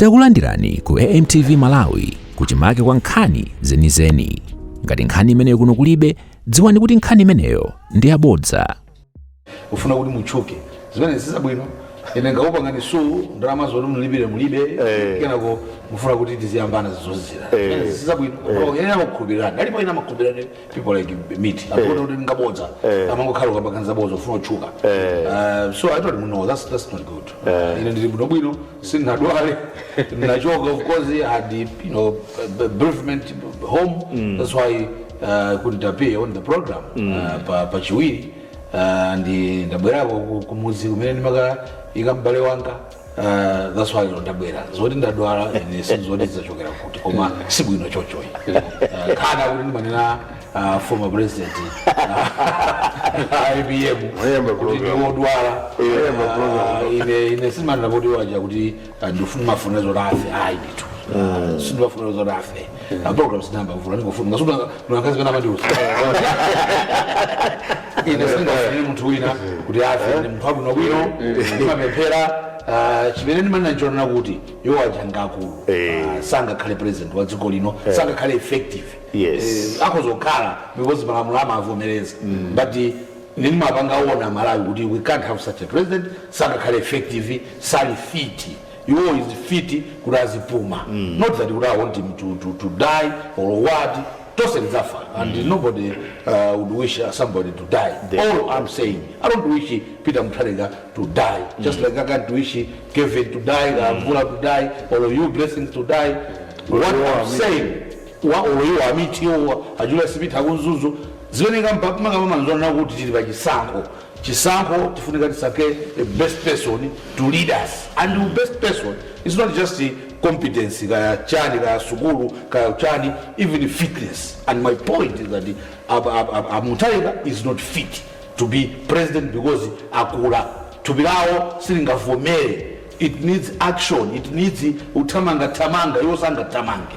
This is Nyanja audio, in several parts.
Takulandirani ku AMTV Malawi kuchimake kwa nkhani zenizeni. Ngati nkhani imeneyo kuno kulibe, dziwani kuti nkhani imeneyo ndi yabodza. mufuna kuti mutchuke zimene zisabwino ine ndikupangani sue ndalama zoti mulipire mulibe Eh. kenako mufuna kuti tiziyambana zozizira Eh. zimene zisabwino ena amakhulupirira alipo ena amakhulupirira people like me timaona kuti ngabodza amangokhala akupanga zabodza kufuna kutchuka Uh, so i told him no that's, that's not good ine ndili bwino bwino sindinadwale ndinachoka of course i had you know b- bereavement home that's why I couldn't appear on the program uh, pa, pa chiwiri uh, ndi ndabwerako ku- kumuzi kumene ndimakaika m'bale wanga Uh, that's why lero ndabwera zoti ndadwala ine sindidziwa zachokera kuti koma si bwino chonchoyi uh, kaya kuti ndimanena uh, former president uh, APM kuti ndiwodwala. Uh, ine ine sindimanena kuti awaja kuti uh, ndikuwafunira zoti afe ayi ndithu sindiwafunira zoti afe Pa program sinayambe mvula ndikufuna Ngasutu na kazi bana mandiuza. Ine sindingafunire munthu wina kuti afe ndi munthu wabwino bwino. Ndimapemphera. Uh, chimene ndimanena n'chonena kuti iwo aja ngakulu Eh. uh, sangakhale president wa dziko lino sangakhale effective Yes. Eh, akhoza kukhala because malamulo amavomereza but eh, ndimapanga warn a Malawi kuti we can't have such a president sangakhale effective sali fit iwowo is fiti kuti azipuma not that kuti i want him to, to, to die or what tose tidzafa and nobody uh, would wish uh, somebody to die Definitely. all i'm saying i don't wish peter mutharika to die just like i can't wish kevin to die kamvula to die or you blessings to die what i'm saying wa or you amiti or ajula sipita kunzuzu zimene kampamakapamanzona kuti tili pachisankho Chisankho tifunika tisankhe the best person to lead us and the best person is not just competence kaya chani kaya sukulu kaya chani even fitness and my point is that a Mutharika is not fit to be president because akula thupi lawo silingavomere, it needs action it needs kuthamangathamanga iwo sangathamange.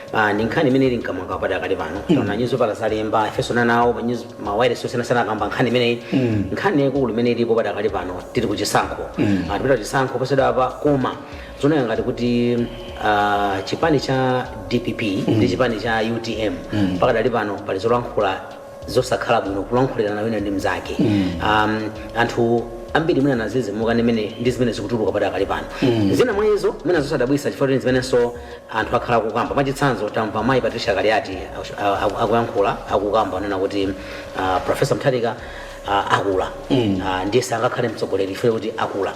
Ah, ndi nkhani imene ili mkamwaka padakali pano taona nyuzipepala zalemba ifenso nanawo pa news- ma wireless osiyanasiyana akamba nkhani imeneyi nkhani yaikulu imene ilipo padakali pano tili ku chisankho Ah, tipita kuchisankho posachedwapa koma zikuoneka ngati kuti ah, chipani cha dpp ndi chipani cha utm padakali pano pali zolankhula zosakhala bwino kulankhulirana wina ndi mnzake um, anthu ambiri mwina adadzidzimuka ndi mene- ndi zimene zikutuluka padakali pano zina mwa izo mwina zosadabwitsa chifukwa kuti zimenenso anthu akhala akukamba mwachitsanzo tamva mayi patricia kaliati aku- a- aku- akuyankhula akukamba kunena kuti ah, profesa mutharika ah, akula Ah, ndiye sangakhale mtsogoleri chifukwa choti akula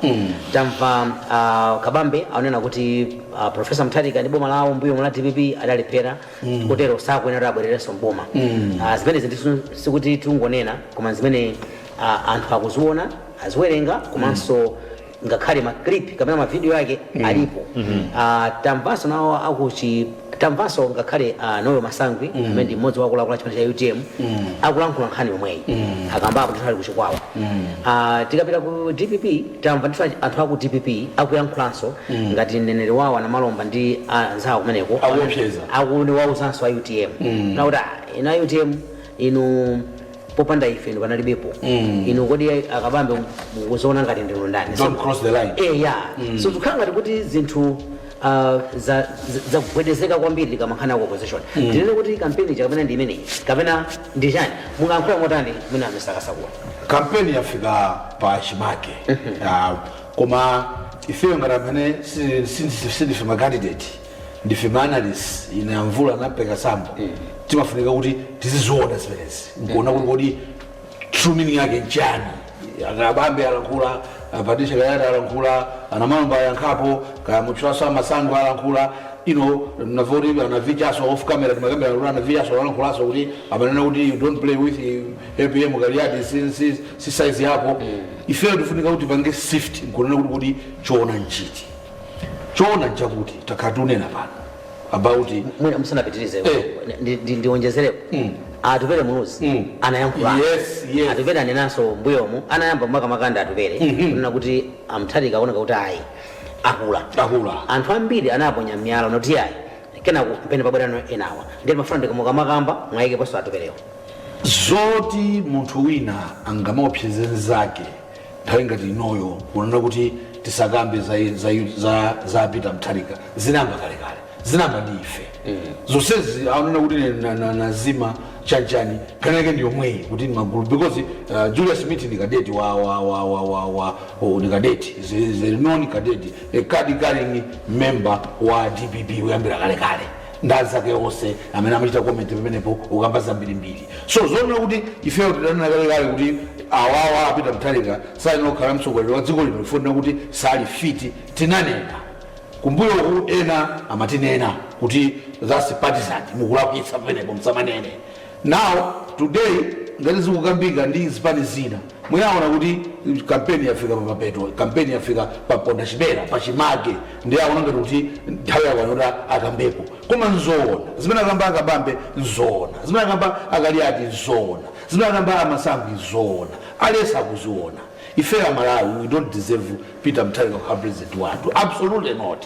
tamva a kabambe anena kuti ah, profesa mutharika ndi boma lawo mbuyomu la dpp adalephera mm. kotero sakuyenera kuti abwererenso mboma mm. uh, zimenezi ndisu sikuti tikungonena koma zimene uh, anthu akuziona aziwerenga komanso mm ngakhale maclip kapena mavidiyo yake mm. alipo mm -hmm. uh, tamvanso nawo akuchi tamvanso ngakhale uh, noel masangwi mm. amene ndi mmodzi wa akuluakulu chipani cha utm mm. akulankhula nkhani yomweyi mm. akambapo ndithu ali kuchikwawa mm. uh, tikapita ku dpp Tamva ndithu anthu aku dpp akuyankhulanso ngati mneneri wawo a Namalomba ndi anzawo kumeneko akuwauzanso a utm kunena kuti ah inu a utm inu popanda ife inu palibepo inu kodi a Kabambe mukuziona ngati ndinu ndani eya so zikukhala ngati kuti zinthu uh, za- za- zakugwedezeka kwambiri ikamakhala ya ku opposition ndinene kuti kampeni ja kapena ndi imeneyi kapena ndi chani mungayankhule motani mwina mwatsakatsa kuti kampeni yafika pa chimake Ah, koma ifeyo ngati amene si- si- si- sindife macandidate ndife maanalyst ine amvula ndi a peter sambo timafunika kuti tiziziona zimenezi nkuona kuti kodi true meaning yake nchani akabambe alankhula a patricia kaliati alankhula anamalomba ayankhapo kaya mutchulaso amasangwi alankhula inunso mwati anavichanso off camera timakambirana kuti anavichanso alankhulaso kuti amanena kuti you don't play with apm kaliati si, si, si size yako ifeyo tifunika kuti tipange sift nkunena kuti kuti choona nchiti choona nchakuti takhala tikunena pano about mwina musanapitirize Eh. ndi- ndi- ndionjezereko Mm. atupere muluzi Mm. anayankhula Yes, yes. atupere anenanso mbuyomu anayamba makamaka ndi atupere kunena kuti amtharika aoneka kuti ayi akula Akula. anthu ambiri anaponya miyala nkuti ayi kenako mpamene pabwerano enawa ndiye ndimafuna kuti mukamakamba mwayikeponso atuperewo zoti munthu wina angamaopsezane nzake Nthawi ngati inoyo kunena kuti tisakambe za, za, za, za Peter Mutharika zinayamba kalekale zinayamba ndi ife zonsezi kunena kuti ine na- na- nazima chanchani nkhani yake ndi yomweyi kuti ndi magulu because uh, Julius Mithi ndi kadeti wa, wa, wa, wa, wa, wa oh, ndi kadeti is a- is a known kadeti a card carrying member wa DPP kuyambira kalekale ndi anzake onse amene amachita comment pamenepo ukamba zambirimbiri so zonena kuti ifeyo tidanena kalekale kuti awawa apita mthalika sayenera kukhala mtsogoleri wa dziko lino chifukwa timanena kuti sali fiti tinanena kumbuyoku ena amatinena kuti that's partisan mukulakwitsa pamenepo msamanene Now today ngati zikukambika ndi zipani zina mwina awona kuti campaign yafika pamapeto, campaign yafika pa pondachipera, pachimake ndiye awona ngati kuti nthawi yakwana yoti akambepo. Koma nzoona zimene akamba a Kabambe? Nzoona zimene akamba a Kaliati? Nzoona zimene akamba a Masangwi? Nzoona. Aliyense akuziona. Ifeyo a Malawi we don't deserve Peter Mutharika kukhala president wathu, absolutely not.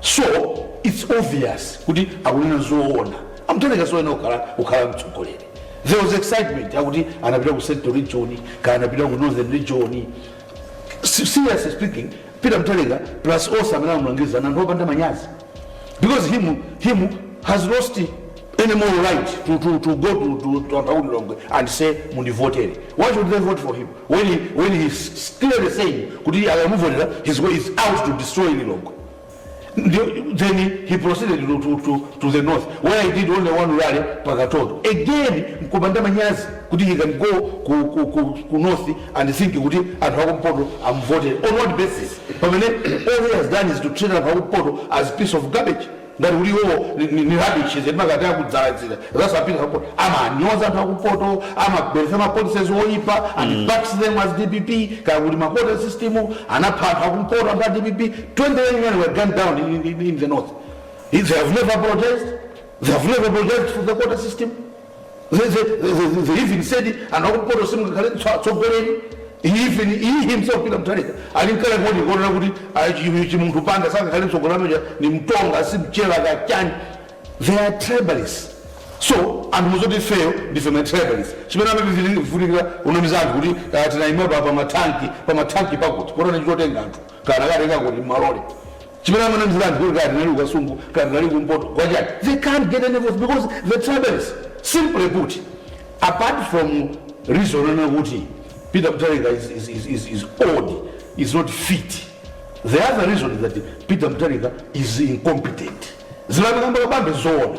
So its obvious kuti akunena zoona a Mutharika soyenera kukhala mtsogoleri there was excitement akuti anapita ku central region kaya anapita ku northern region Se- seriously speaking peter mutharika plus onse amene amulangiza ndi anthu opanda manyazi because him has lost any moral right to, to, to go to, to, to Antauli Longwe and say mundivotere why should they vote for him when, he, when he's clearly saying kuti akamuvotera his way is out to destroy Lilongwe Ndio- then he proceeded to, to, to, to the north where he did only one rally pakatondo again mkupanda manyazi kuti he can go ku, ku, ku, ku north and think kuti anthu akumpoto amvotere on what basis pamene all he has done is to treat anthu akumpoto as piece of garbage ngati kuti iwowo ni- ni ni rubbish zedi makati akudzala zida zasapita support amanyoza anthu akumpoto amabweresa mapolicies oyipa and backs them as dpp kaya kuti makota system anapha anthu akumpoto anthu a dpp 20 young men were gunned down in, in, in the north they have never protest they have never protest for the quota system The, the, the, the, they even said anthu akumpoto simungakhale tso- atsogoleri even iye himself peter mutharika analinkale ndi kunena kuti ah, chi- chimunthu banda sangakhale mtsogoleri ameneja ni mtonga si mchewa kachani they are tribalists so anthu musati ifeyo ndife ma tribalists chimene amavutikira kunamiza anthu kuti ah, tinaima pa pa matanki pa matanki pakuti kodi nanga atenga anthu kaya katenga kuti malole chimene amanamizira anthu kuti kaya tinali kukasungu kaya tinali kumpoto kachani they can't get any votes because they are tribalists simply put apart from reason yonena kuti peter mutharika is, is, is, is, is old is not fit the other reason is that peter mutharika is incompetent zimene amakamba akambe zoona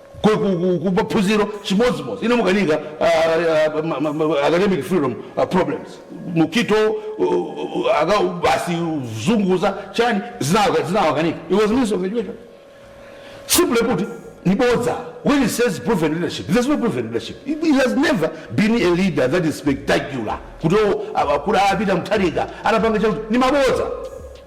ku, ku, ku, ku maphunziro chimodzimodzi inu mukanika uh, uh, ma- ma- ma- academic freedom uh, problems mukhito uh, uh, aka basi zunguza chani zinawa- zinawakanika he was minister of education simply put ndi bodza when he says proven leadership there's no proven leadership he, he has never been a leader that is spectacular kuti o a kuti a peter mutharika anapanga chakuti ndi mabodza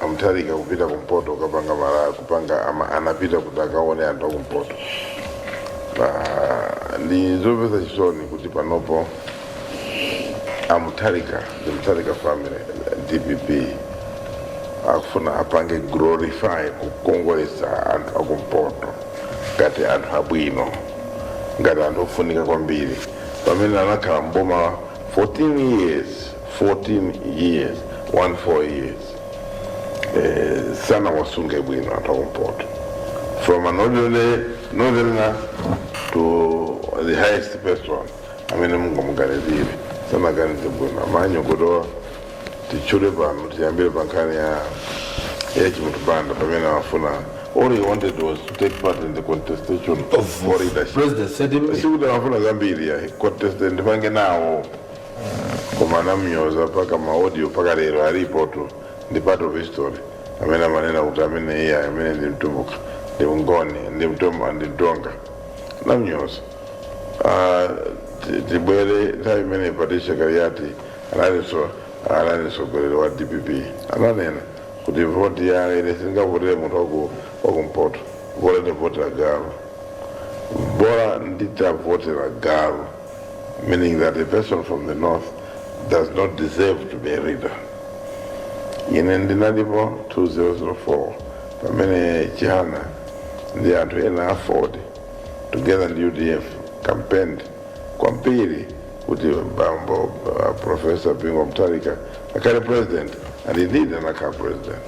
amutharika kupita kumpoto kukapanga rally kupanga ama, anapita kuti akaone anthu akumpoto pa ndi zomvetsa chisoni kuti panopo amutharika the mutharika family dpp akufuna apange glorify kukongolesa anthu akumpoto ngati anthu abwino ngati anthu ofunika kwambiri pamene anakhala mboma 14 years 14 years 1 4 years eh, sanawasunge bwino anthu akumpoto from an ordinary northerner to the highest person amene mungamuganizire sanaganize bwino amanyo ndikufuna titchule pano tiyambire pa nkhani ya ya chimunthu banda pamene amafuna all he wanted was to take part in the contestation Of for leadership president said him. sikuti amafuna zambiri ya contestant ndipange nawo koma anamnyoza mpaka maaudio mpaka lero alipotu ndi part of history amene amanena kuti amene iye amene ndi mtumbuka ndi mngoni ndi mtumbuka ndi mtonga anamnyoza Ah, ti- tibwere nthawi imene patricia kaliati anali anali mtsogoleri wa dpp ananena kuti voti ya ine sindingavotere munthu waku- wakumpoto bola nditavotera galu bola nditavotera galu meaning that a person from the north does not deserve to be a leader ine ndinalipo 2004 pamene chihana ndi anthu ena aford together ndi udf campaigned kwambiri kuti bambo uh, professor bingu mutharika akhale president and indeed anakhala president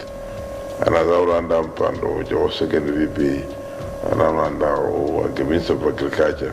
anadzawalanda mpando uja wa second vp anawalanda wa minister of agriculture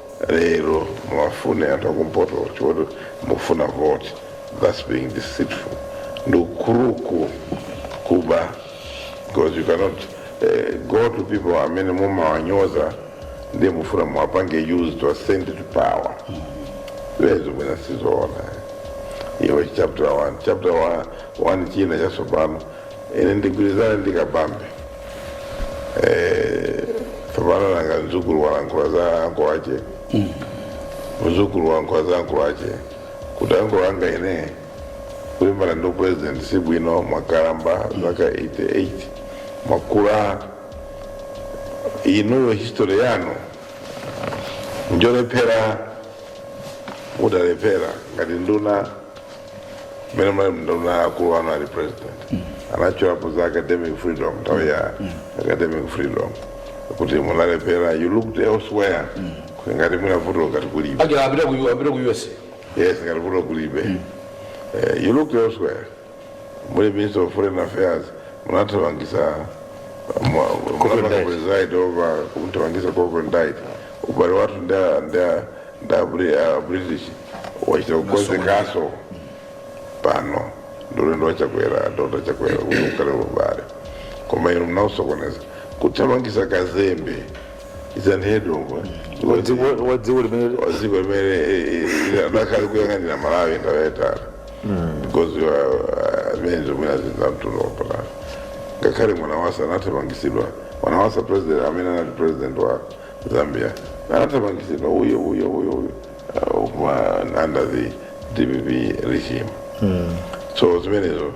lero muwafune anthu akumpoto poti mufuna vote thats being deceitful ndi ukuluku kuba because you cannot eh, go to people amene mumawanyoza ndiye mufuna muwapange use to ascend to power izo mwina sizoona iwe chapter 1 chapter 1 china chatsopano ine ndigwirizane ndi kabambe Eh, tsopano nanga mdzukulu walankhula za anko ache mdzukulu walankhula za anko ache kuti anko anga ine kulimbana ndi president si bwino mwakalamba zaka 88 mwakula inuyo history yanu njolephera mudalephera ngati nduna mmene munali nduna akulu anu ali president anatchulapo za academic freedom nthawi ya academic freedom kuti munalephera you looked elsewhere kuti ngati mwinavuto ngati kulibe aja apita ku apita ku usa yes ngati vuto kulibe Eh, you looked elsewhere muli minister of foreign affairs munathamangitsa Cochrane. munathamangitsa over kumthamangitsa cochrane dyet ubale wathu nda nda ndabri a british wachita kukonzekanso pano ndi ulendo wa chakwera a dokotala chakwera kuti ukhale ubale koma inu munausokoneza kuthamangitsa kazembe izanhedongo Wadziko- wadziko limene waziko imene linkali kuyang'anira malawi ndawetala because you are, uh, amene zomwera zinamtundu wapatala ngakhale mwana wasa anathamangitsidwa mwanawasa president amene anali president wa zambia anathamangitsidwa uyo uyo uyo uyo uh, kuma under the dpp regime so zimenezo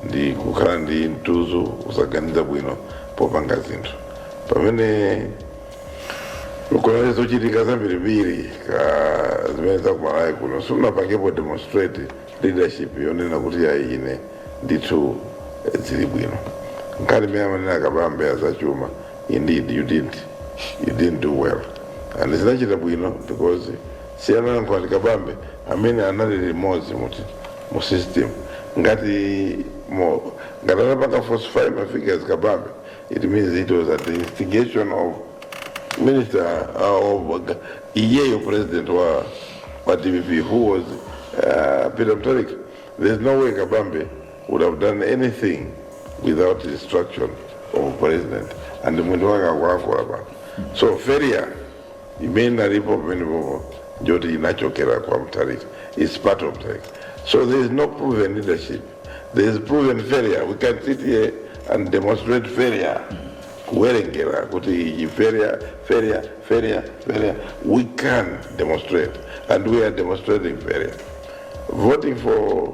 ndi kukhala ndi mtuzu kusaganiza bwino popanga zinthu pamene ukaona zochitika zambirimbiri ka zimene zakuMalawi kuno simunapangepo demonstrate leadership yonena kuti ayi ine ndithu eh, zili bwino nkhani imene amanena akabambe azachuma Indeed you did you didn't do well and sinachita bwino because si ana ankhwali kabambe amene anali limodzi mu mu system ngati mo ngati anapanga falsify ma figures kabambe it means it was at the instigation of minister uh, of iyeyo president wa dpp who was uh, peter mutharika there's no way kabambe would have done anything without instruction of president and mwendo wake akulankhula pa so failure imene inalipo pamene popo njoti inachokera kwa mutharika its part of mutharika so there is no proven leadership there is proven failure we can sit here and demonstrate failure kuwerengera kuti iyi failure failure failure failure we can demonstrate and we are demonstrating failure voting for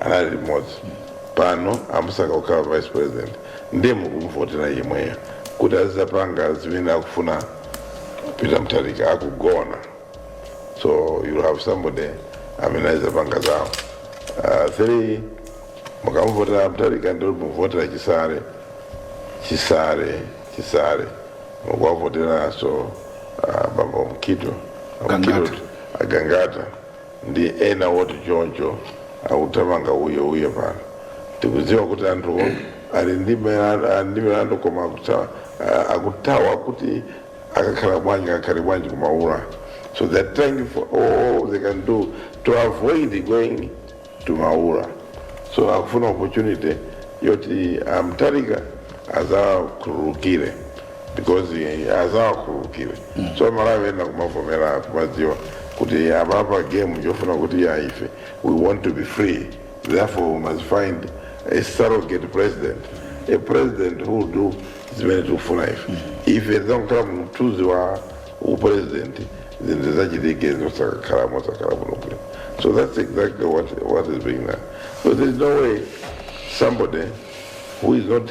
anali limodzi pano amusankha kukhala vice president ndiye mukumvotera yemweyo kuti azizapanga zimene akufuna peter mutharika akugona so you'll have somebody amene azizapanga zawo uh, three mukamuvotera mutharika ndiye mukuvotera chisale chisale chisale mukuwavoteranso uh, bambo mkito, Mkito, agangata ndi ena oti choncho akuthamanga uyo uyo pano tikudziwa kuti anthuwo ali ndi milandu- ali ndi milandu koma akutha- a- akuthawa kuti akakhala bwanji akakhale bwanji kumaula so they're trying for all they can do to avoid going to maula so akufuna opportunity yoti a Mutharika azakhululukire because azawakhululukire so aMalawi ena kumavomera kumadziwa kuti apapa game yofuna kuti ayi ife we want to be free therefore we must find a surrogate president a president who will do zimene tikufuna ife ife tizakakhala mthunzi wa upresident zinthu zachitike zosakakhala mosakhala muno bwino so that's exactly what, what is being done so there is no way somebody who is not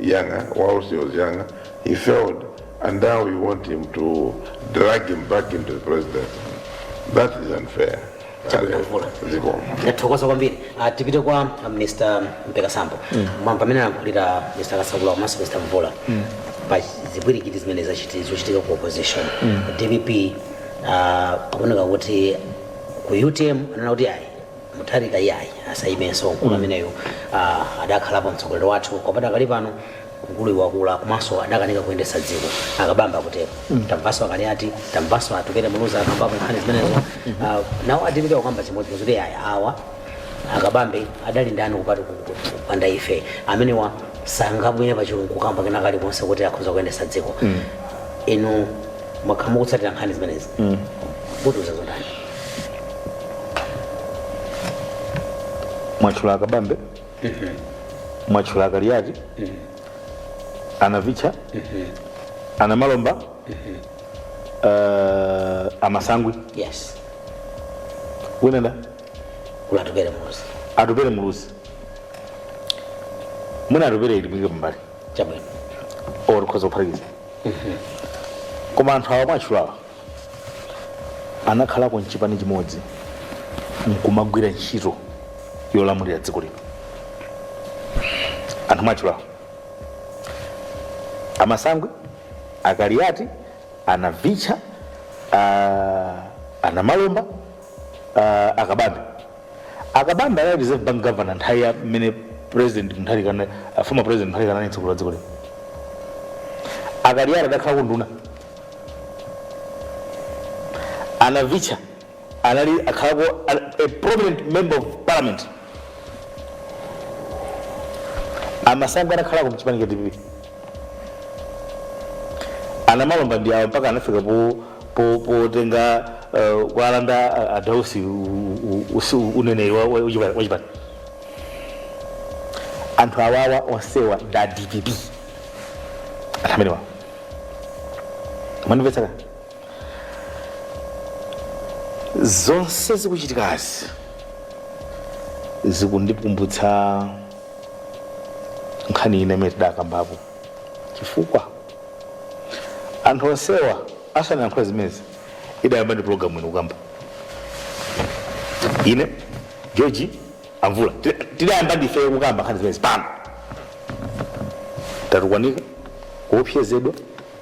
Younger whilst he was younger he failed and now we want him to drag him back into the presidency. That is unfair. Zikomo. Ndathokoza kwambiri. Ah, tipite kwa ah, Mr. Mpeka Sambo. Mwamva mmene anayankhulira Mr. Kasakula komanso Mr. Mvula. Pa zipwirikiti zimene zachiti- zochitika ku opposition. DPP ah, zikuoneka kuti ku UTM anena kuti ayi mutharika iyayi asayimenso mkulu ameneyo uh, adakhalapo mtsogoleri wathu koma pakali pano mkuluyu wakula komanso adakanika kuyendesa dziko akabambe akutero tamvaso akaliyati tamvaso atupere muluzi akambapo nkhani zimenezo uh, nawo adipita kukamba chimodzimodzi kuti ayi awa akabambe adali ndani kupati ku- ku- ku- kupanda ife amenewa sangabwere pachigulu kukamba kena kali konse kuti akhoza kuyendesa dziko inu mwakhala mukutsatira nkhani zimenezi mutiuza zotani mwatchula akabambe mwatchula akaliyati anavicha anamalomba eh, amasangwi yes winenda kuli atupere muluzi atupere muluzi mwina atupere timuike pambali chabwino or tikhoza kuphatikiza koma anthu awa mwatchulawa anakhalako mchipani chimodzi nkumagwira ntchito yolamulira dziko lino anthu mwatchulawo amasangwi akaliyati anavicha ah, anamalomba ah, akabambe akabambe anali reserve bank governor nthawi ya mmene president mutharika ana- ah, former president mutharika anali mtsogoleri wa dziko lino akaliyati adakhalako nduna A Navicha anali akhalako a a prominent member of parliament. Amasangwi anakhalako mchipani cha DPP. Anamalomba ndi awo mpaka anafika po po potenga uh, kualanda a- a Dausi u- u- usi- uneneri wa- wa- wachipani. wachipani. Anthu awawa onsewa ndi a DPP. Anthu amenewa. mwandimvetsa zonse zikuchitikazi zikundikumbutsa nkhani ina imene tidakambapo chifukwa anthu onsewa asanayankhula zimezi idayamba ndi pulogalamu ino kukamba ine george amvula tidayamba ndifeyo kukamba nkhani zimenezi pano tatukwanika kuopsezedwa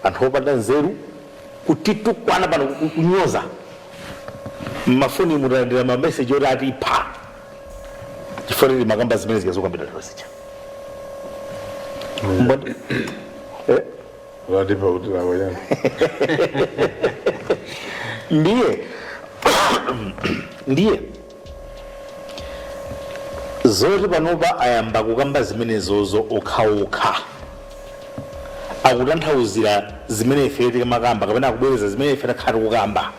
anthu opanda nzeru kutitukwana pano ku- kunyoza mmafoni talandira mameseji oti atipha chifukwa timakamba zimene zikudzakambidwa lero zija Mbona- Eh? watipa kuti lawayana ndiye ndiye Zoti panopa ayamba kukamba zimenezozo okhaokha akutanthauzira zimene ifeyo tikamakamba kapena akubwereza zimene ife takhala tikukamba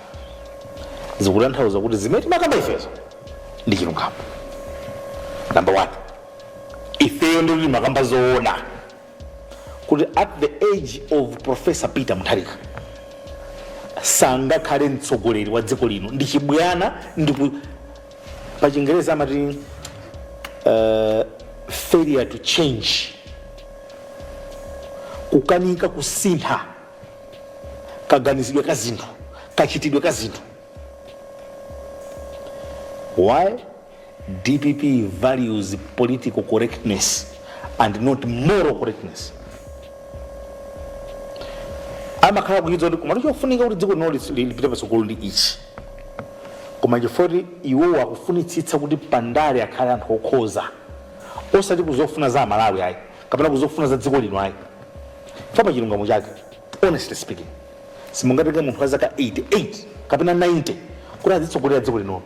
zikutanthauza kuti zimene timakamba ifezo ndi chilungamo namba 1 ifeyo ndikuti timakamba zoona kuti at the age of professor peter mutharika sangakhale mtsogoleri wa dziko lino ndi chibwana ndipo pa chingereza amati uh, failure to change kukanika kusintha kaganizidwe ka zinthu kachitidwe ka zinthu why Dpp values political correctness and not moral correctness. amakhala akuchidziwa kuti koma chofunika kuti dziko lino lis- li- lipite patsogolo ndi ichi koma chifukwa choti iwowo akufunitsitsa kuti pandale akhale anthu okhoza osati kuzofuna za amalawi ayi kapena kuzofuna za dziko lino ayi chifukwa pa chilungamo chake honestly speaking simungatenge munthu wa zaka 88 kapena 90 kuti azitsogolera dziko linono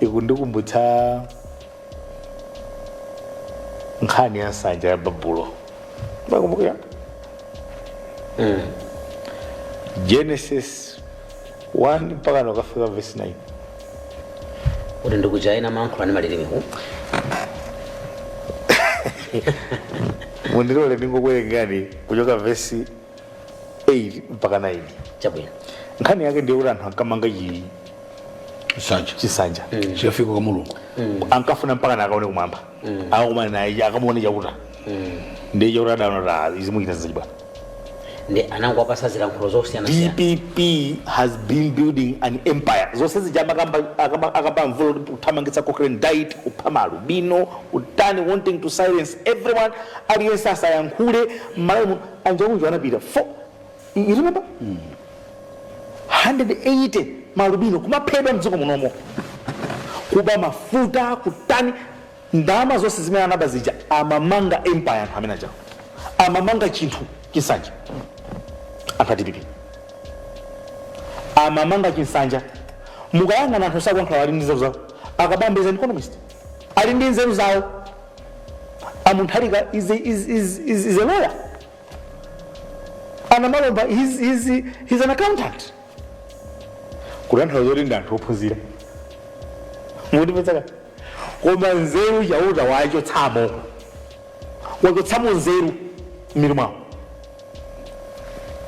ikundikumbutsa nkhani ya nsanja ya babulo mukukumbukira genesis 1 mpakana kukafika verse 9 kuti ndi kuja ena amayankhula ndi malilime ku mundilole ndingokuwerengerani kuchoka vesi 8 mpaka 9 chabwino nkhani yake ndiye kuti anthu ankamanga chi- nsanja chisanja chikafike kwa mulungu ankafuna mpakana akaone kumwamba akakumane naye akamuone chakuta ndiye chakuta adaona kuti "Ah, izi mukuchita zachibwana ndiye anangowapatsa zilankhulo zosiyana siyana dpp has been building an empire zonse zija amakamba a mvula kuti kuthamangitsa cochrane dyet kupha malubino kutani wanting to silence everyone aliyense asayankhule mmalawi muno a njauju anapita fo you remember 180 malubino kumaphedwa mdziko munomo kuba mafuta kutani ndalama zonse zimene anaba zija amamanga empire anthu amene ajawo amamanga chinthu chinsanja anthu a dpp amamanga chinsanja mukayang'ana anthu sakuyankhula ali ndi nzeru zawo a kabambe is an economist ali ndi nzeru zawo a mutharika is a, is, is, is, is a lawyer a namalomba he's, he's, he's an accountant kutanthauza kuti ndi anthu ophunzira mundimvetsa kaya koma nzeru chauta wachotsamo wachotsamo nzeru mmitu mwawo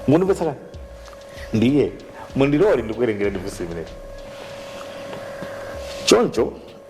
mundimvetsa kaya ndiye mundilole ndikuwerengereni vesi imeneyi choncho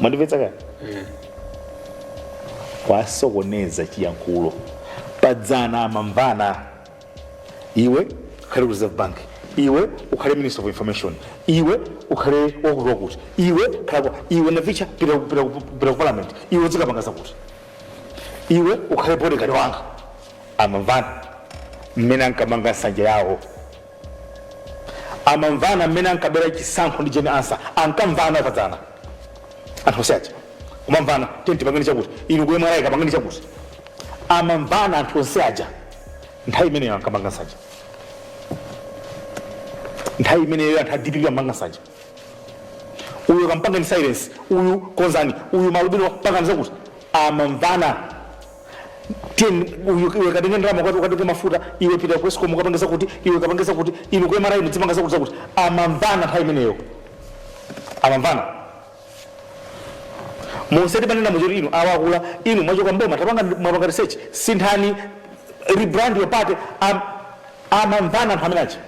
mwandimvetsa kaya kwasokoneza chiyankhulo padzana amamvana iwe ukhale ku reserve bank iwe ukhale minister of information iwe ukhale wakuti wakuti iwe khala kwa- iwe navicha pita ku- pita ku- pita ku parliament iwe udzikapanga zakuti iwe ukhale bodyguard wanga amamvana mmene ankamanga nsanja yawo amamvana mmene ankabera chisankho ndi jane ansah ankamvana padzana anthu onse aja kumamvana tiye tipangeni chakuti inu ku mra kapangeni chakuti amamvana anthu onse aja nthawi imeneyo ankamanga nsanja nthawi imeneyo anthu a dpp amanga nsanja uyu kampangeni silence uyu konzani uyu malubino pangani zakuti amamvana tiye uyu- iwe katenge ndalama kwakuti ukatenge mafuta iwe pita ku escom ukapange zakuti iwe ukapange zakuti inu ku mra mudzipanga zakuti zakuti amamvana nthawi imeneyo amamvana musati panena muchoti inu awakula inu mwachoka mboma tapanga mwapanga research sinthani rebrand your party am- amamvana anthu amene aja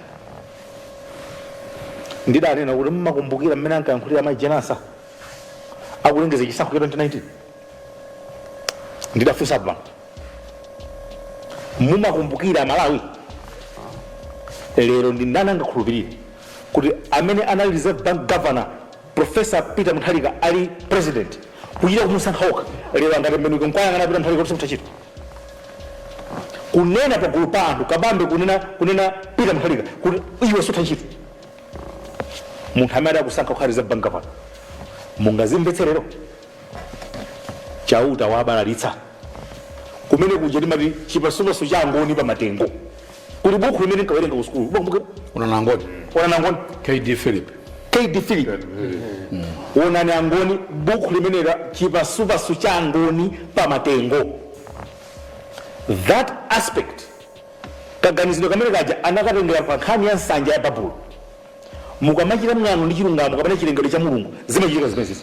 ndidanena kuti mmakumbukira mmene ankayankhulira amayi jane ansah akulengeza chisankho cha 2019 ndidafunsa pano mumakumbukira malawi lero ndi ndani angakhulupirire kuti amene anali reserve bank governor professor peter mutharika ali president kuchita kumusankha okha lero angatembenuke nkuwayang'ana peter mutharika kuti simutachita kunena pagulu pa anthu kabambe kunena kunena peter mutharika kuti iwe sutachita munthu amene adakusankha kukhala reserve bank governor mungazimvetse lero chauta wabalalitsa kumene kuja timati chipasupasu cha angoni pa matengo kuli bukhu limene nkawerenga ku sukulu Bukhu- bukhu- onani angoni onani angoni kd philip kd philip onani angoni bukhu limene la chipasupasu cha angoni pa matengo that aspect kaganizidwe kamene kaja anakatengera pa nkhani ya nsanja ya babulo Mukamachita mwano ndi chilungamo kapena chilengedwe cha Mulungu, zimachitika zimenezi.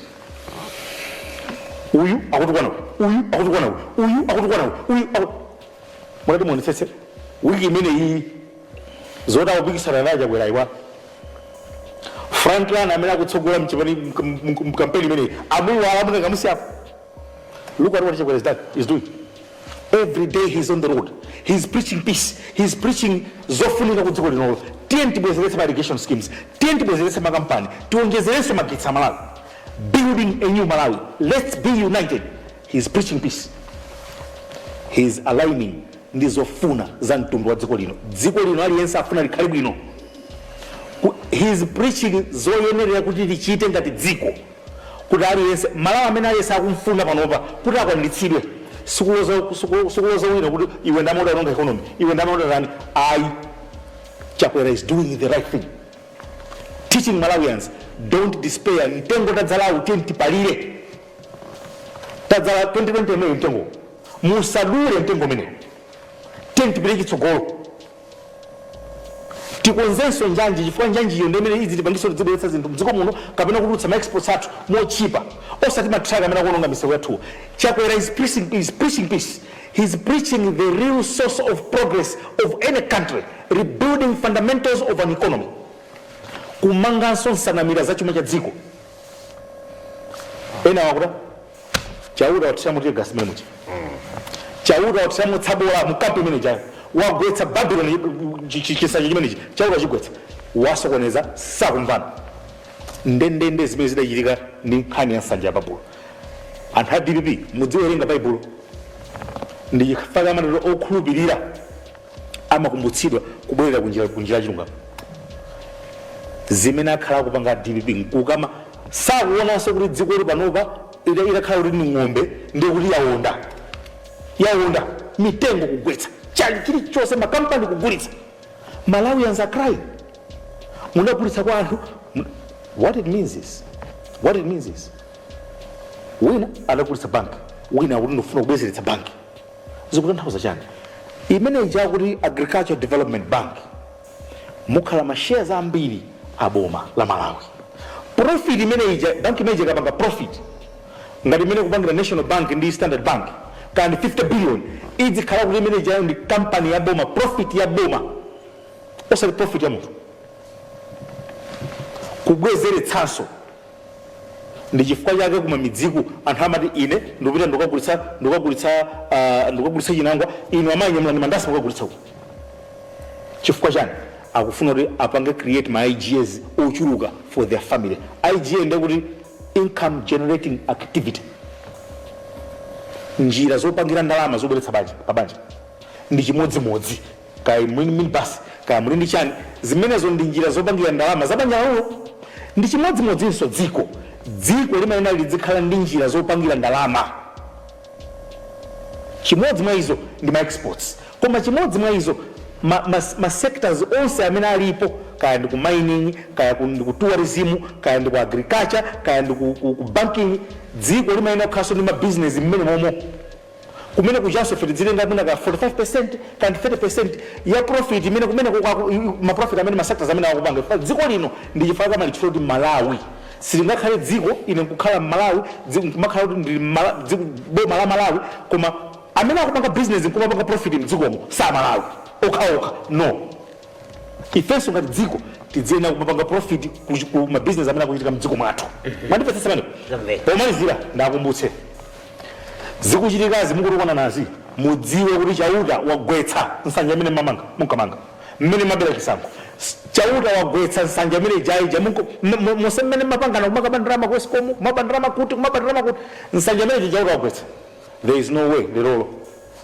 Uyu akutukwana uyu, uyu akutukwana uyu, uyu akutukwana uyu, uyu aku... Mutati muonetsetse wiki imene iyi zoti akupikisana naye Chakwera iwa Franklin amene akutsogola mkampeni imeneyi amuiwala amunkamusiyapo Look at what Chakwera is doing. Every day he's on the road. He's preaching peace. He's preaching zofunika ku dziko linolo. Tiyeni tibwezeretse ma irrigation schemes. Tiyeni tibwezeretse makampani. Tiwonjezeretse magetsi a Malawi. Building a new Malawi. Let's be united. He's preaching peace. He's aligning ndi zofuna za mtundu wa dziko lino. Dziko lino aliyense afuna likhale bwino. He's preaching zoyenerera kuti tichite ngati dziko. kuti aliyense malawi amene aliyense akumfuna panopa kuti akwanilitsidwe sikuloza wina kuti iwe ndamene udaononga economy iwe ndamene udatani ayi chakwera is doing the right thing teaching malawians don't despair mtengo tadzalawu tiye tipalire tadzala 2020 imeneyo mtengo musadule mtengo umenewo tiye tipite chitsogolo Tikonzenso njanji chifukwa njanjiyo ndi imene idzitipangitsa kuti tidzibweretsa zinthu mdziko muno kapena kutulutsa ma exports athu motchipa osati ma truck amene akuononga misewu yathuwa. Chakwera is preaching peace, he is preaching the real source of progress of any country, rebuilding fundamentals of an economy, kumanganso nsanamira za chuma cha dziko. Enawo akuda. chauta wathiramo tear gas mmenemuja chauta wathiramo tsabola mkampu imeneijayo wagwetsa babiloni chisanja chimenechi chauta wachigwetsa wasokoneza sakumvana ndendende zimene zidachitika ndi nkhani ya nsanja ya babulo anthu a dpp mudziwerenga baibulo ndi chifukwa chake amatero okhulupirira amakumbutsidwa kubwerera ku njira yachilungamo zimene akhala akupanga dpp nkukama sakuonanso kuti dziko lili panopa idakhala kuti ni ng'ombe ndi kuti yaonda yaonda mitengo kugwetsa chali chilichonse makampani kugulitsa malawians are crying munagulitsa kwa anthu what it means is wina adagulitsa banki wina akuti ndifuna kubwezeretsa banki zikutanthauza chani imeneija kuti agricultural development bank mukhala ma shares ambiri a boma la malawi profit imeneija bank imeneija ikapanga profit ngati mmene ikupangira national bank ndi standard bank kukhala ndi 50 billion idzikhala kuti imeneijayo ndi company ya boma profit ya boma osati profit ya munthu kubwezeretsanso Ndi chifukwa chake kuma midziku anthu amati ine ndikupita ndikagulitsa chinangwa, inu amayi nyamulani mandasi mukagulitse uko. Chifukwa chani? Akufuna kuti apange create ma IGAs ochuluka for their family. IGA ndiye kuti income generating activity, njira zopangira ndalama zobweretsa pa banja ndi chimodzimodzi. Kaya muli ndi minibasi, kaya muli ndi chani, zimenezo ndi njira zopangira ndalama za banja lanulo. Ndi chimodzimodzinso dziko. Dziko limayenera lidzikhala ndi njira zopangira ndalama. Chimodzi mwa izo ndi ma exports. Koma chimodzi mwa izo, ma, ma, ma sectors onse amene alipo, kaya ndi ku mining, kaya ku, ndi ku tourism, kaya ndi ku agriculture, kaya ndi ku, ku, ku banking, dziko limayenera kukhalanso ndi ma business mmenemomo. Kumene kujanso ife tidzitenga mwina ka 45% kaya ndi 30% ya profit imene kumeneko kwa ma profit amene ma sectors amenewa akupanga dziko lino ndi chifukwa chake chifukwa kuti Malawi silingakhale dziko ine nkukhala Mmalawi dziko nkumakhala kuti ndi boma la Malawi koma amene akupanga business nkumapanga profit mdzikomo si a Malawi okhaokha no ifenso ngati dziko tidziyenera kumapanga profit ku- ku mabizinesi amene akuchitika mdziko mwathu mwandimvetsa pano pomalizira ndiwakumbutse zikuchitikazi mukutukwana nazi mudziwe kuti chauta wagwetsa nsanja imene mamanga munkamanga mmene mumabera chisankho S- chauta wagwetsa nsanja imene ija ija nonse mmene mumapangana kumakaba ndalama ku escom kumaba ndalama kuti kumaba ndalama kuti nsanja imeneyo chauta wagwetsa there is no way lerolo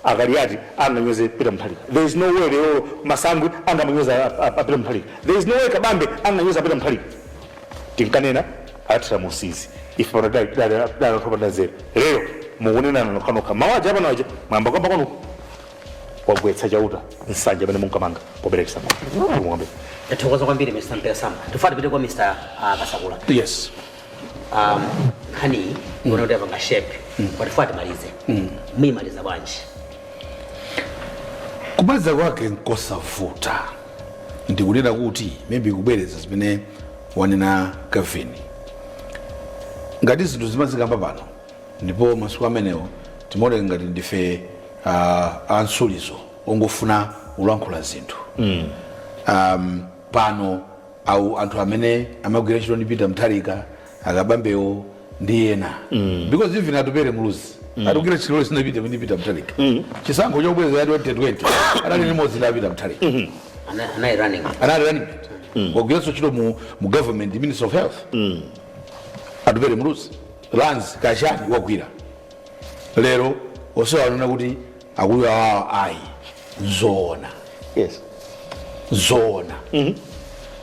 a Kaliati anganyoze Peter Mutharika there is no way lero Masangwi angawanyoze a, a, a Peter Mutharika there is no way Kabambe anganyoze a Peter Mutharika tinkanena Atupele Muluzi ife pano tinali- tinali- tinali anthu opanda nzeru lero mukunenana nokhanokha mawu aja apano aja mwayamba kuyamba kwanu wagwetsa chauta nsanja imene munkamanga pobera chisankho zikomo Tathokoza kwambiri Mr. Mpera Samba. Tikufuna tipite kwa Mr. ah, Kasakula. yes um, nkhaniyi ndiona kuti yapanga shape apa tifuna timalize muyimaliza bwanji kumaliza kwake nkosavuta ndikunena kuti maybe kubwereza zimene wanena kevin ngati zinthu timazikamba pano ndipo masiku amenewo timaoneka ngati ndife uh, amtsulizo ongofuna kulankhula zinthu um, pano awo anthu amene amagwira ntchito ndi Peter Mutharika a Kabambewo ndi ena mm. because even Atupele Muluzi mm. wagwira ntchito ndi a Peter Mutharika mm. chisankho chobwereza cha 2020 anali limodzi ndi Peter Mutharika mm -hmm. anali running anali running mm. wagwiranso ntchito mu, mu government minister of health mm. Atupele Muluzi lands kaya chani wagwira lero onsewa aona kuti akuyo awawa ayi zoona yes zoona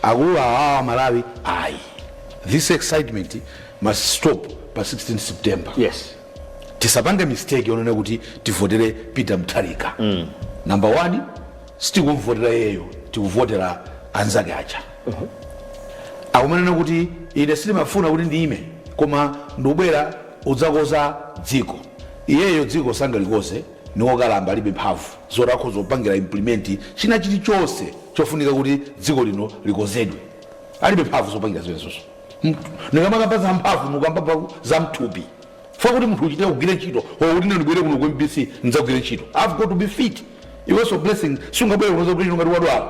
akulu awawa malawi ayi this excitement must stop pa 16 september yes tisapange mistake yonena kuti tivotere peter mutharika mm. number one sitikumvotera iyeyo tikuvotera anzake aja akumanena kuti ine sindimafuna kuti ndiyime koma ndikubwera udzakonza dziko iyeyo dziko sangalikonze niwokalamba alibe mphamvu zoti akhoza kupangira implement china chilichonse chofunika kuti dziko lino likonzedwe alibe mphamvu zopangira zimenezo nikamakamba za mphamvu nikukamba zamthupi fa kuti munthu uchite kugwira ntchito or kuti nibwere kuno ku mbc nidzagwire ntchito i've got to be fit iwenso blessing sungabwere kuno kuti ngati wadwala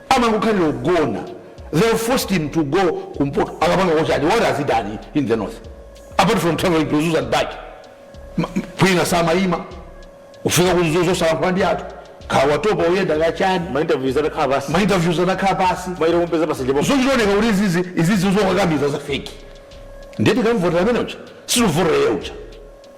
amangokhalira kugona they forced him to go kumpoto akapangako chani what has he done in the north apart from traveling to mzuzu and back kwina samayima kufika ku mzuzu salankhula ndi anthu kawatopa uyenda kachani mainterviews atakhala pansi mainterviews anakhala pansi maire kumpeza pa mjedo zochioneka kuti izizi izizi zokakamiza za feki nde tikamvotera amene uja sitivotera iye uja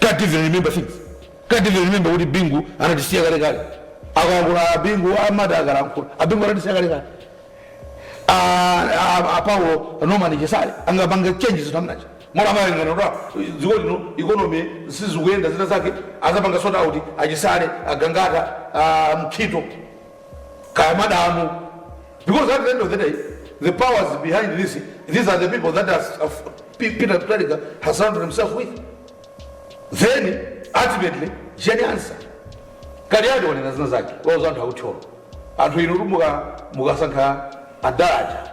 Can't even remember things. Can't even remember kuti Bingu anatisiya kale kale. Akalankhula a Bingu amati akalankhula. A Bingu anatisiya kale kale. A a- a Paulo Norman Chisale angapange change zinthu amene uja. Mwina amene ngati kuti dziko lino economy sizikuyenda zina zake azapanga sort out achisale a gangata a mkhito kaya madamu because at the end of the day the powers behind this these are the people that has, uh, P- peter Mutharika has surrounded himself with then ultimately jeni ansah kaliati wanena zina zake wauza anthu aku thyolo anthu inu kuti muka- mukasankha adad aja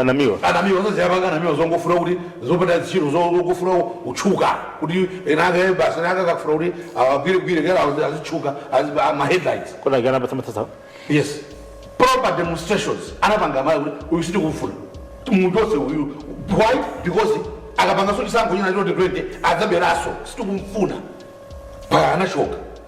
anamiwa anamiwa sasa yapanga anamiwa zongofuna kuti zopanda ntchito zo- zongofuna kutchuka kuti enake basi enake akafuna kuti awagwiregwire kera azi- azitchuka azi- a- ma headlines kunakapanda ma demonstrations yes proper demonstrations anapanga mayi kuti uyu sitikufuna munthu onse uyu why because akapanganso chisankho china choti 20 adzaberanso sitikumfuna pa anachoka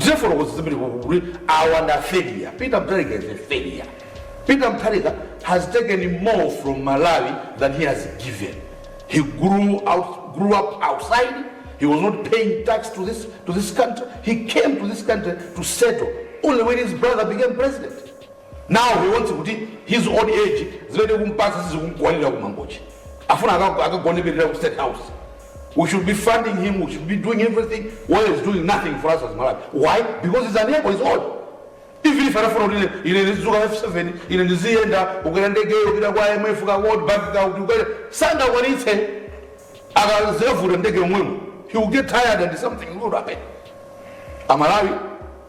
Tinafotokoza zambiri ku gulu kuti awa ndi a failure. Peter Mutharika is a failure. Peter Mutharika has taken more from Malawi than he has given. He grew out, grew up outside. He was not paying tax to this, to this country. He came to this country to settle only when his brother became president. Now he wants kuti his old age zimene kumpasa sizikumkwanira kumangochi. Afuna akagoneperera ku state house. We should be funding him, we should be doing everything, while he's doing nothing for us as Malawi. Why? Because he's unable, he's old. Even if anafuna kuti ine- ine ndizuka F7, ine ndiziyenda kukwera ndege yopita kwa IMF ka World Bank ka kuti ukwere sangakwanitse akazevuta ndege yomwemo. He will get tired and something will happen. Amalawi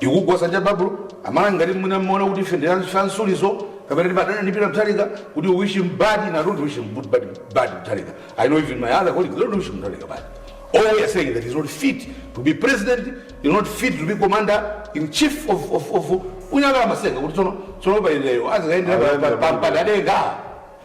tikugwa sanja babulo amalawi ngati mwina mmaona kuti ife ndifansulizo kapena timadana ndi peter mutharika kuti you wish him bad and i don't wish him good bad, bad mutharika i know even my other colleagues they don't wish mutharika bad all we are saying that he's not fit to be president he's not fit to be commander in chief of, of, of ku nyakala masenga kuti tsono tsono pa iyeyo azikaendera Ayendera pampanda denga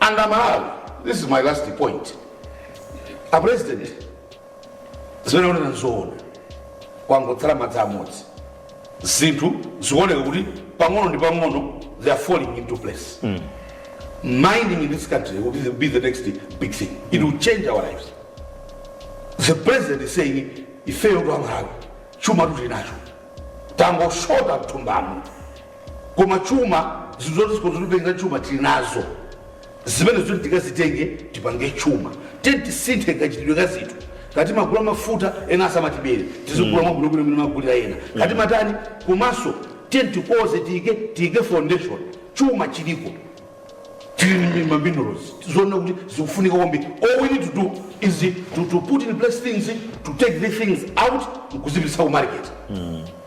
and amalawi this is my last point a president zimene akunena nzoona kwangotsala madzi amodzi zinthu zikuoneka kuti pang'ono ndi pang'ono they are falling into place mining in this country will be the, be the next big thing it will change our lives the president is saying ifeyotu amalawi chumatu tinacho tangoshota mthumbamo koma chuma zinthu zoti zikhoza kutitengera chuma tili nazo zimene zoti tikazitenge tipange chuma tiyeni tisinthe kachitidwe ka zinthu kaya timagula mafuta ena asamatibere tizigula mwabwino bwino mmene amagulira ena kaya timatani komanso tiyeni tikonze tiyike tiyike foundation chuma chiliko tili ma minerals zoona kuti zikufunika kwambiri all we need to do is to, to put in place things to take these things out nkuzipitisa ku market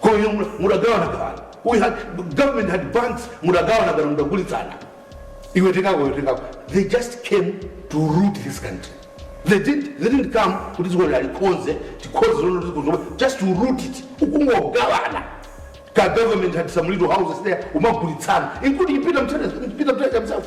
Koma inu mu- mudagawana gawana. We had government had banks mudagawana gawana mudagulitsana. Iwe tengako iwe tengako. They just came to root this country. They didn't they didn't come kuti dziko lalikonze tikhoze zono dziko zomwe just to root it. Ukungogawana. Ka government had some little houses there umagulitsana including Peter Mtete Peter Mtete himself.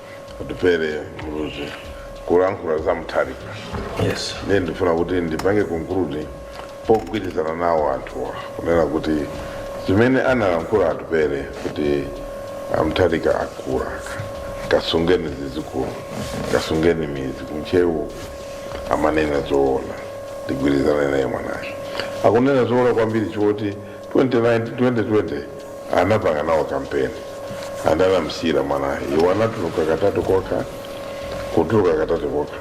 atupele muluzi kulankhula za mutharika yes ndiye ndifuna kuti ndipange conclude pogwirizana nawo anthuwa kunena kuti zimene analankhula atupele kuti a mutharika akula kasungeni zidzukulu kasungeni midzi ku ntcheu amanena zoona ndigwirizana naye mwanayo akunena zoona kwambiri choti 2019 2020 anapanga nawo kampeni and anamsiyira mwanayo iwo anatuluka katatu kokha kutuluka katatu kokha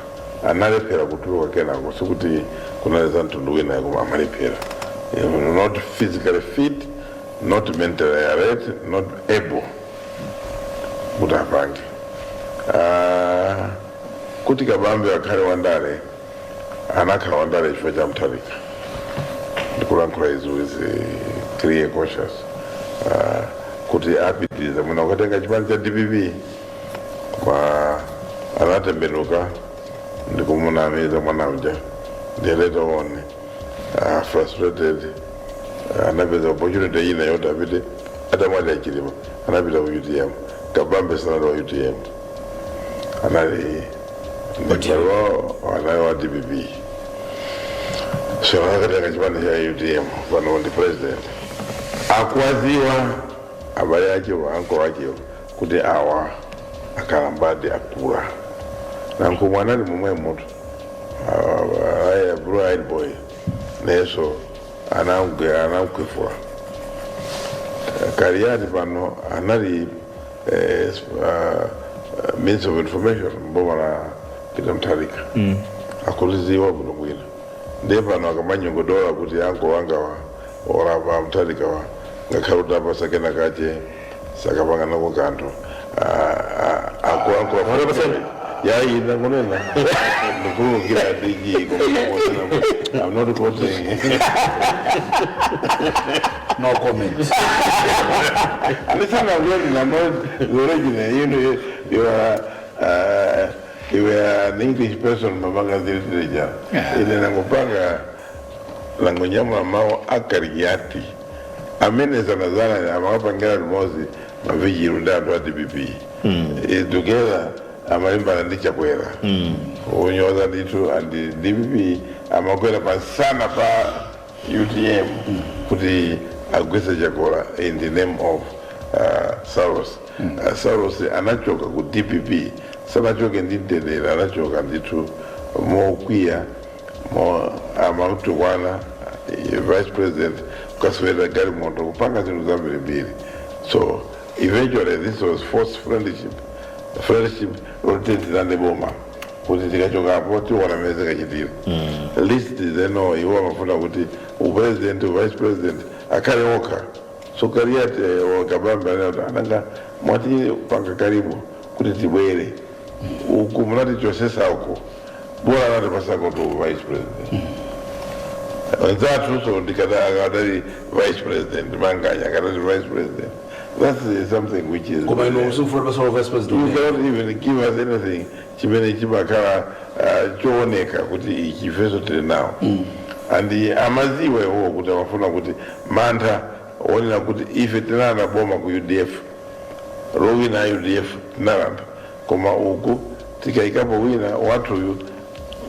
analephera kutuluka kenako sikuti kunali za mtundu wina koma amalephera He was not physically fit not mentally alert not able kuti apange Ah, kuti kabambe akhale wandale anakhala wandale chifukwa cha mutharika ndikulankhula izi with eh, clear conscience Ah, kuti apitirize mwina kukatenga chipani cha dpp koma anatembenuka ndikumunamiza mwana uja ndiye later on ah, frustrated ah, anapeza opportunity ina yoti apite atamwalira a chilima anapita ku utm kabambe sanali wa utm anali ndipalo anali wa dpp so anakatenga chipani cha utm pano ndi president akuwadziwa abale achewo ankolo achewo kuti awa akalambadi akula nankhumwa anali momwemutu aya blue eyed boy nayenso anamkhwefula kaliyati pano anali eh, uh, uh, minister of information mboma la peter mutharika mm. akuliziwa bwino bwino ndiye pano akamanyogodola kuti uncle angawa orapa mutharika wa ngakhale utawapasa kena kache sakapanga nako kanthu akuankoaaa yaina kunena ndikulukira ndiji koma i'm not quoting No comment. Listen, I'm not, I'm not the original. You know, you, you are, uh, you are an English person, Mabanga Zilitreja. Yeah. Ile nangopanga langonyama mao akariati. Amene sana sana ni amawapa ngela limozi maviji runda andu ati bibi. Mm. E, together amalimba na ndicha kwela. Mm. Unyoza nditu and DPP amakwela pa sana pa utm kuti agwese chakwera in the name of uh, saulos uh, saulos anachoka ku dpp sanachoke ndi mtendere anachoka ndithu mokwiya mo amamtukwana eh, vice president kukaswera galimoto kupanga zinthu zambirimbiri so eventually this was forced friendship friendship loti tilande boma kuti tikachokapo tiona mmene zikachitira list zeno iwo amafuna kuti upresident uvice president akhale okha so kaliati a kabambe ananga mwatipanga karibu kuti tibwere uku munatichosesa uku bola anatipasako uvice president anzathu so ndikadali vice president manganya akadali vice president That is something which is. koma inu simufuna kupasako vice president You cannot even give us anything chimene chimakhala uh, chooneka kuti ichi ifenso tili nawo and amaziwa iwowo kuti amafuna kuti mantha onena kuti ife tinalanda boma ku udf lowina a udf tinalanda koma uku tikayikapo wina wathuyu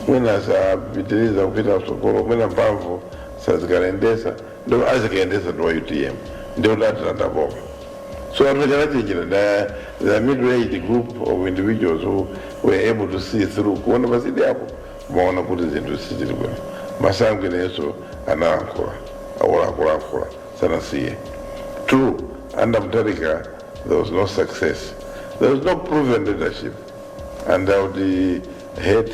mwina sapitiriza kupita mtsogolo mwina mphamvu sazikayendesa ndo azikayendesa ndi a utm ndiye kuti atilanda boma so anthu aja anachenjera the middle aged group of individuals who were able to see through kuona pasidyapo amaona kuti zinthu sizili bwino masangwi nayenso analankhula awola akulankhula sanasiye true under mutharika there was no success there was no proven leadership and i would uh, hate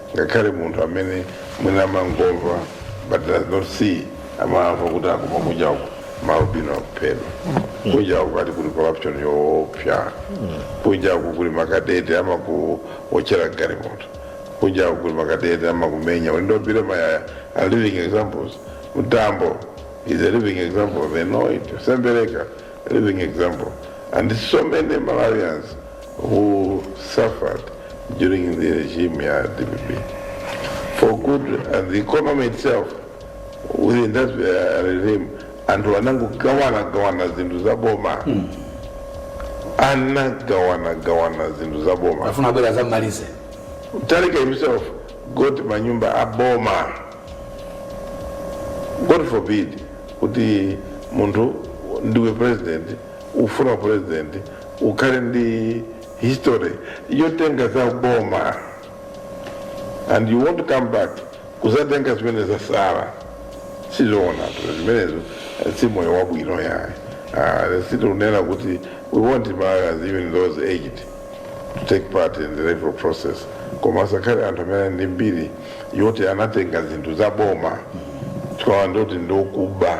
ngakhale munthu amene mwina amangomva but does not see amamva kuti akuba kunja uku maalbino akuphedwa kunja uku ati kuli corruption yoopsa kunja uku kuli makadeti amakuotchera galimoto kunja uku kuli makadeti amakumenya ulendo billy mayaya are living examples mtambo is a living example they know it sembereka a living example and so many malawians who suffered during the regime ya DPP for good and the economy itself within that uh, regime anthu anangogawana gawana zinthu za boma anagawana gawana zinthu za boma afuna abwera azamalize Mutharika himself got manyumba a boma god forbid kuti munthu ndiwe president ufuna president ukhale ndi history yotenga za boma and you want to come back kuzatenga zimene zasala sizoonatu zimenezo eh, si moyo wabwino yaye Ah, situnena kuti we want Malawians even those aged to take part in the electoral process koma asakhale anthu amene ali ndi mbiri yoti anatenga zinthu za boma tikawandoti ndikuba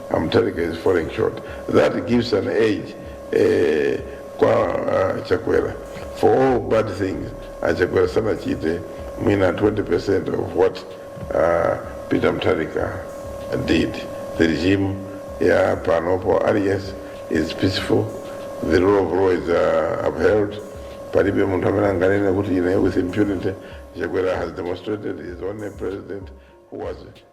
Amuthalika is falling short. That gives an age eh, kwa uh, Chakwera for all bad things. Uh, Chakwera sanachite mwina 20% of what uh, Peter Mutharika did. The regime ya panopo alias is peaceful. The rule of law is uh, upheld. Palibe munthu amene anganene kuti ine with impunity. Chakwera has demonstrated his own president who was